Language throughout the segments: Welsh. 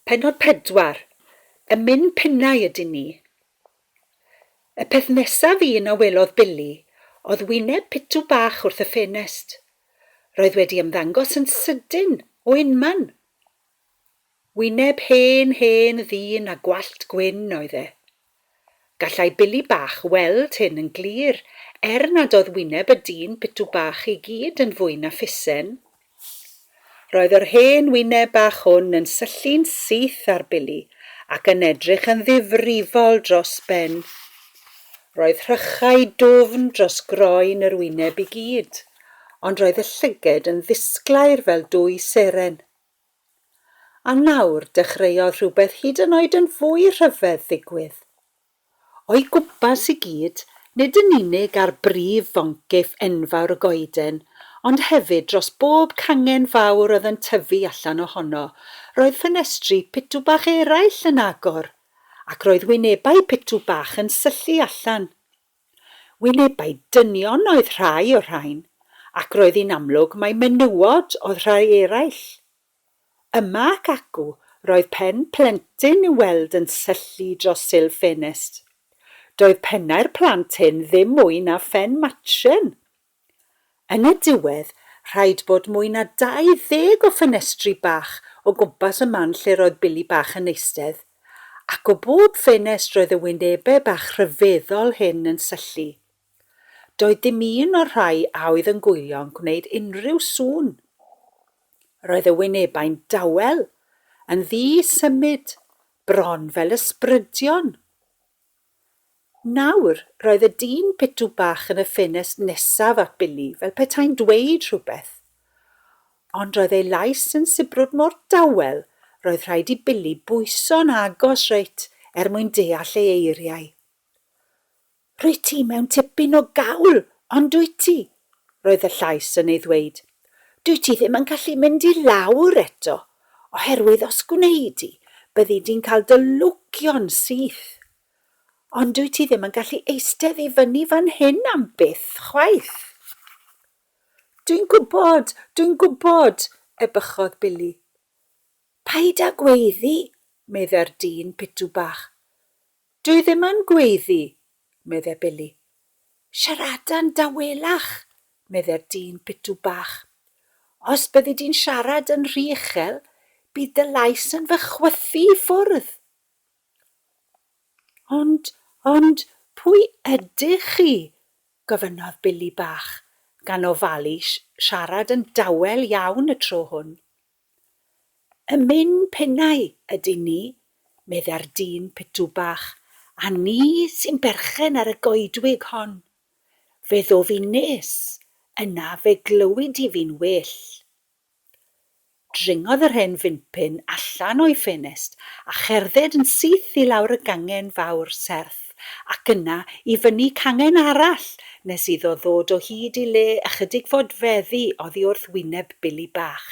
Pennod 4, Y Min Pinnau ydyn ni! Y peth nesaf un a welodd Billy oedd wyneb pitw bach wrth y ffenest. Roedd wedi ymddangos yn sydyn o unman! Wyneb hen, hen ddyn â gwallt gwyn oedd e. Gallai Billy Bach weld hyn yn glir, er nad oedd wyneb y dyn pitw bach i gyd yn fwy na phusen. Roedd yr hen wyneb bach hwn yn syllu'n syth ar Billy ac yn edrych yn ddifrifol dros ben. Roedd rhychau dwfn dros groen yr wyneb i gyd, ond roedd y llyged yn ddisglair fel dwy seren. A nawr dechreuodd rhywbeth hyd yn oed yn fwy rhyfedd ddigwydd. O'i gwmpas i gyd, nid yn unig ar brif foncyff enfawr y goeden, ond hefyd dros bob cangen fawr oedd yn tyfu allan ohono, roedd ffenestri pitw bach eraill yn agor, ac roedd wynebau pitw bach yn syllu allan. Wynebau dynion oedd rhai o'r rhain, ac roedd hi'n amlwg mai menywod oedd rhai eraill. Yma ac acw roedd pen plentyn i'w weld yn syllu dros sil ffenest. Doedd pennau'r plant hyn ddim mwy na phen matren! Yn y diwedd, rhaid bod mwy na 20 o ffenestri bach o gwmpas y man lle'r oedd Billy bach yn eistedd, ac o bob ffenest roedd y wynebau bach rhyfeddol hyn yn syllu. Doedd dim un o'r rhai a oedd yn gwylio'n gwneud unrhyw sŵn. Roedd y wynebau'n dawel, yn ddi-symud, bron fel ysbrydion. Nawr, roedd y dyn pitw bach yn y ffenest nesaf at Billy, fel petai'n dweud rhywbeth. Ond roedd ei lais yn sibrwd mor dawel, roedd rhaid i Billy bwyso'n agos reit er mwyn deall ei eiriau. Rwyt ti mewn tipyn o gawl, on'd wyt ti? Roedd y llais yn ei ddweud, Dwyt ti ddim yn gallu mynd i lawr eto, oherwydd os gwneud di, byddi di'n cael dy lwgio'n syth. Ond dwyt ti ddim yn gallu eistedd i fyny fan hyn am byth chwaith. Dwi'n gwybod, dwi'n gwybod, ebychodd Billy. Paid â gweiddi, meddai'r dyn pitw bach. Dw i ddim yn gweiddi, medde Billy. Siaradan dawelach, medde'r dyn pitw bach. Os byddi di'n siarad yn rhy uchel, bydd dy lais yn fy chwythu i ffwrdd. Ond, ond, pwy ydych chi? gofynnodd Billy Bach, gan ofalu siarad yn dawel iawn y tro hwn. Y myn pennau ydyn ni, meddai'r dyn pitw bach, a ni sy'n berchen ar y goedwig hon. Fe ddof i'n nes, yna fe glywid i fi'n well. Dringodd yr hen fympyn allan o'i ffenest a cherdded yn syth i lawr y gangen fawr serth. Ac yna i fyny cangen arall nes iddo ddod o hyd i le ychydig fodfeddi oddi wrth wyneb Billy Bach.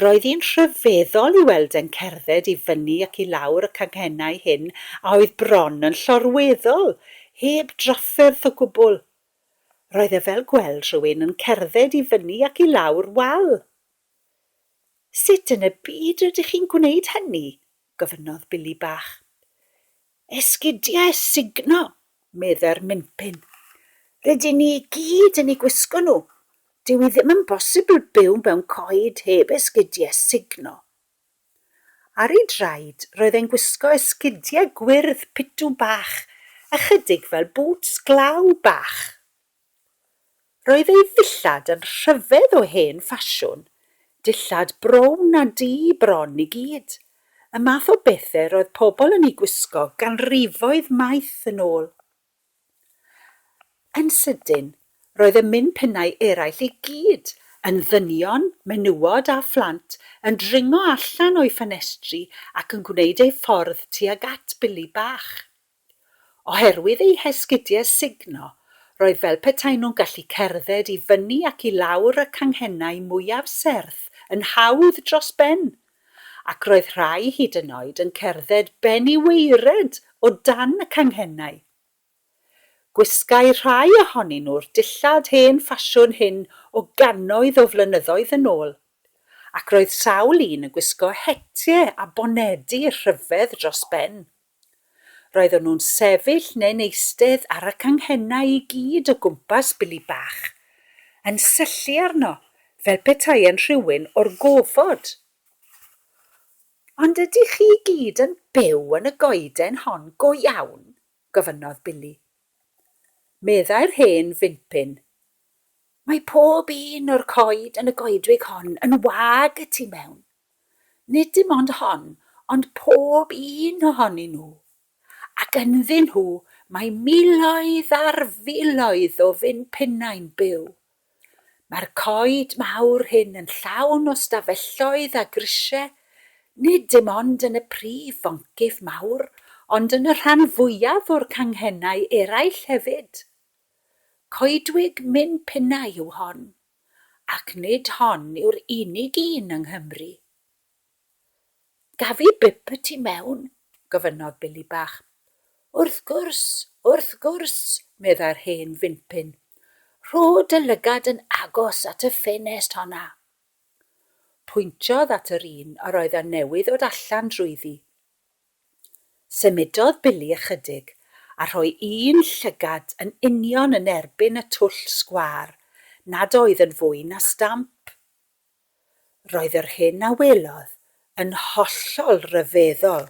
Roedd hi'n rhyfeddol i weld e'n cerdded i fyny ac i lawr y canghennau hyn a oedd bron yn llorweddol, heb drafferth o gwbl. Roedd e fel gweld rhywun yn cerdded i fyny ac i lawr wal. Sut yn y byd rydych chi'n gwneud hynny? gofynnodd Billy Bach. Esgidiau sugno, meddai'r Minpin. Rydyn ni i gyd yn eu gwisgo nhw. Dyw hi ddim yn bosibl byw mewn coed heb esgidiau sugno. Ar ei draed, roedd e'n gwisgo esgidiau gwyrdd pitw bach, ychydig fel bŵts glaw bach. Roedd ei ddillad yn rhyfedd o hen ffasiwn, dillad brown a du bron i gyd, y math o bethe roedd pobl yn eu gwisgo ganrifoedd maith yn ôl. Yn sydyn, roedd y min pinnau eraill i gyd, yn ddynion, menywod a phlant, yn dringo allan o'i ffenestri ac yn gwneud eu ffordd tuag at Billy bach. Oherwydd eu hesgidiau sugno, roedd fel petai nhw'n gallu cerdded i fyny ac i lawr y canghennau mwyaf serth yn hawdd dros ben, ac roedd rhai hyd yn oed yn cerdded ben i waered o dan y canghennau. Gwisgai rhai ohonyn nhw'r dillad hen ffasiwn hyn o gannoedd o flynyddoedd yn ôl, ac roedd sawl un yn gwisgo hetie a bonedi rhyfedd dros ben. Roedden nhw'n sefyll neu'n eistedd ar y canghennau i gyd o gwmpas Billy Bach, yn syllu arno fel petae'n rhywun o'r gofod. Ond ydych chi i gyd yn byw yn y goeden hon go iawn? gofynnodd Billy. Meddai'r hen fympyn, Mae pob un o'r coed yn y goedwig hon yn wag y tu mewn. nid dim ond hon, ond pob un ohonyn nhw. Ac ynddyn nhw mae miloedd ar filoedd o finpennau'n byw. Mae'r coed mawr hyn yn llawn o stafelloedd a grisiau, nid dim ond yn y prif foncyff mawr, ond yn y rhan fwyaf o'r canghennau eraill hefyd. Coedwig minpennau yw hon. ac nid hon yw'r unig un yng Nghymru. Gaf i bip y tu mewn? gofynnodd Billy Bach. Wrth gwrs, wrth gwrs, meddai'r hen fimpyn. Rho dy lygad yn agos at y ffenest honna. Pwyntiodd at yr un yr oedd a newydd ddod allan drwyddi. Symudodd Billy ychydig, a rhoi un llygad yn union yn erbyn y twll sgwâr, nad oedd yn fwy na stamp. Roedd yr hyn a welodd yn hollol ryfeddol.